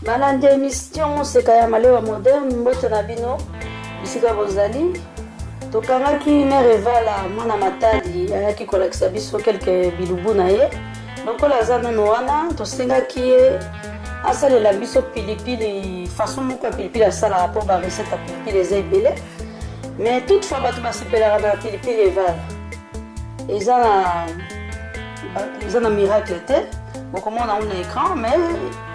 balandi emission moseka ya malewa moderne mbote na bino bisika bozali tokangaki mere evala mwana matadi ayaki kolakisa biso kelke bilubu na ye lokola aza nano wana tosengaki ye asalela biso pilipili façon moko ya pilipili asalaka mpo barecette ya pilipili eza ebele mais toutefois bato basepelaka na pilipili evala eza na eza na miracle te bokomona yango na écran mais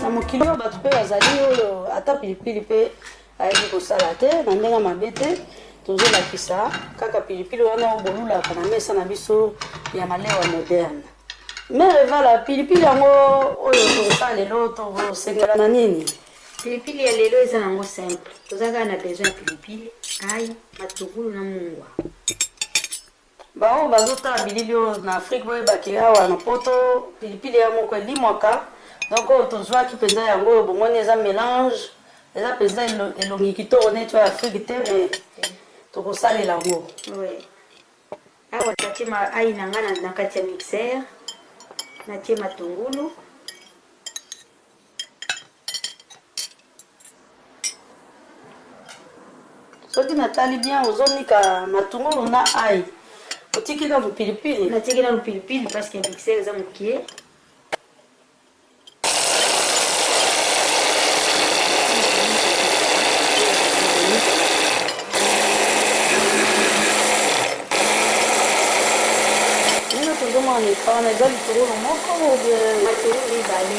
na mokili oyo bato mpe bazali oyo ata pilipili mpe ayebi kosala te na ndenge mabe te tozolakisa kaka pilipili wana bolulaka na mesa na biso ya malewa moderne mere vala pilipili yango oyo tokosala lelo tokosengela na nini Pilipili ya lelo eza nango simple, toza kaka na besoin ya pilipili, ayi, matugulu na mungwa. Baoyo bazotala bilili oyo na Afrique boyebaki awa na poto pilipili ya moko elimwaka, donc oyo tozwaki mpenza yango oyo bomoni eza melange, eza mpenza elongi kitoko neti oyo Afrique te, mais tokosalela yango. Oui. Awa natie ma ayi na nga na kati ya mixeur, natie matungulu soki natali bien ozonika matungulu na ai otiki na mopilipili natiki na mopilipili parce que mixer eza mokie tozomona wana eza litungulu moko matungulu ibale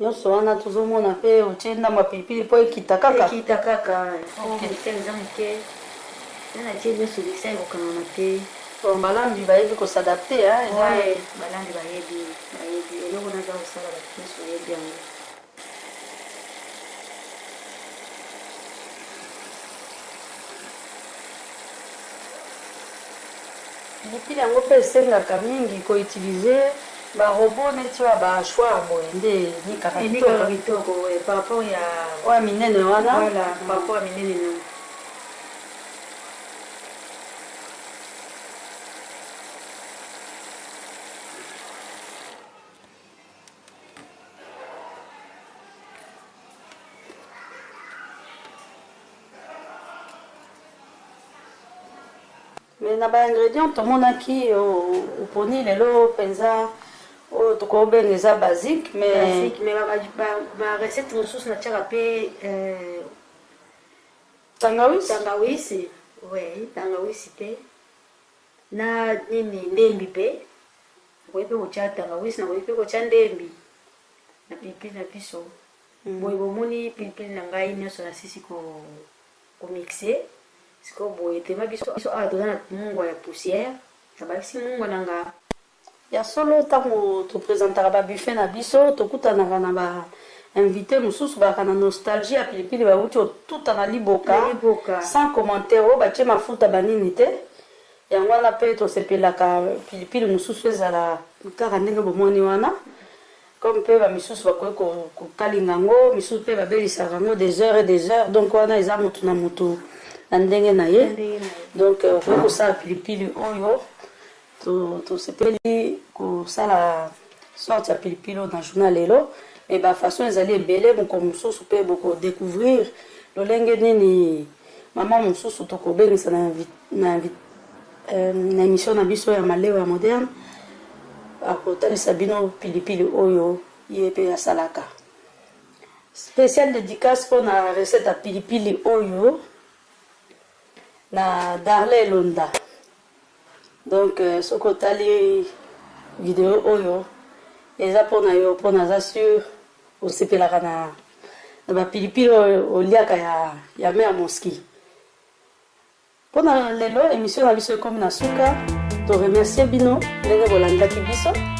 nyonso wana tozomona mpe otie ndamba pilipili mpo ekita kaka ekita kaka eza eh. moke natie nyonso bisa ekokangana te balambi bayebi kosadapte balambi bayebi Nayebi eloko naza kosala bakristo ayebi yango. Pilipili yango mpe esengaka mingi ko utiliser ba robot neti oyo ba hachoir boye nde enikaka kitoko kitoko oyo par rapport ya oyo minene wana voilà par rapport ya minene na mais na baingrédient tomonaki oponi lelo mpenza oyo tokobenga eza basique mais barecette mosusu natiaka mpe euh, tangawisi tangawisi oui tangawisi mpe Na nini? Ndembi pe. Nakoki pe kotia tangawisi, nakoki pe kotia ndembi na pilipili na biso. Boye, bomoni, pilipili na ngai nyonso nasilisi ko, komixe. Sikoyo, boye, tema biso, biso awa toza na mungwa ya poussière. Nabakisi mungwa na nga. Ya solo tango to presentaka ba buffet na biso tokutanaka na ba invites mosusu bazalaka na nostalgie ya pilipili bawuti kotuta na liboka sans commentaire oyo batie mafuta ba nini te yango wana pe tosepelaka pilipili mosusu ezala kaka ndenge bomoni wana comme pe ba misusu bakoki kokalinga yango misusu pe babelisaka yango des heures et des heures donc wana eza mutu na mutu na ndenge na ye donc okoki kosala pilipili oyo Tosepeli kosala sorte ya pilipili oyo na journal lelo me bafaçon ezali ebele mokolo mosusu mpe bokodecouvrir lolenge nini mama mosusu tokobengisa na, na, euh, na émission na biso ya malewa ya moderne akotalisa bino pilipili oyo ye mpe asalaka spécial dédicace mpo na recette ya pilipili oyo na darle elonda Donc soki otali video oyo eza pona yo pona aza sur osepelaka na na ba pilipili oyo oliaka ya ya mère Mosky. Pona lelo emission na biso ekomi na suka. To remercier bino ndenge bolandaki biso.